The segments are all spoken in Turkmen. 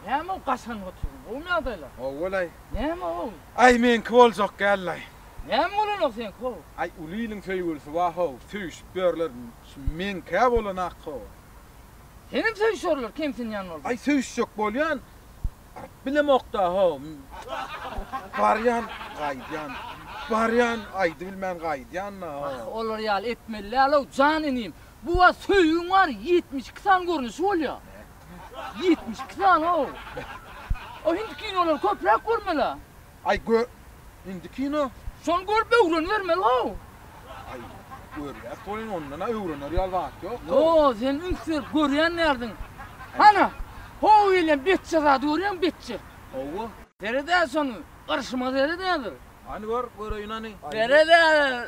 Näme ol gaşan otyryň? Gowymy ýagdaýlar? Gowy bolaý. Näme ol? Aý, meňki boljak däl-laý. Näme bolanok seňki how? Aý, uly iliň söýgülisi bar how, söýüşip ýörler. Şu meňkä bolanak how. Senem söýüşerler, kemsinýän bolsaň. Aý, söýüşjek bolýan. Baryp bilemok-da how. Barýan, gaýdýan. Barýan, aýdybilmän gaýdýan-da how. Olar ýaly etmeli däl-ow, jan inim. Bu wagt söýgiň bar ýetmiş iki sany görnüşi bolýa. Ýetmiş iki sany-ow. O hindi kinolary köpräk görmeli-ä. Aý gö hindi kino. Şony görüp öwrenibermeli-how. Aý görýäs welin ondan-a öwrener ýaly zat ýok. Ýo, sen üns berip görýän däldiň. Hany, how gelýän betje zady görýäňmi, betje? Hawa. Seret-ä şony, gyrşyma seret häzir. Hany gör, göreýin hany. Seret-ä.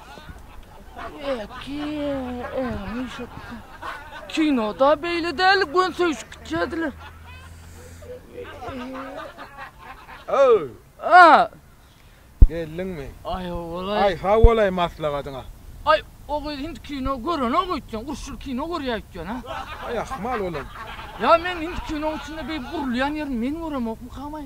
Kinoda beýle däl, gön söýşüp gitýärdiler. Öw. A. Geldiňmi? Ay howalay. Ay howalay maslahatyňa. Ay o gyz indi kino görene gitsin. Urşul kino görýär gitsin ha. Ay ahmal olam. Ya men indi kino içinde bir gurulýan ýerini men göremokmy kamay?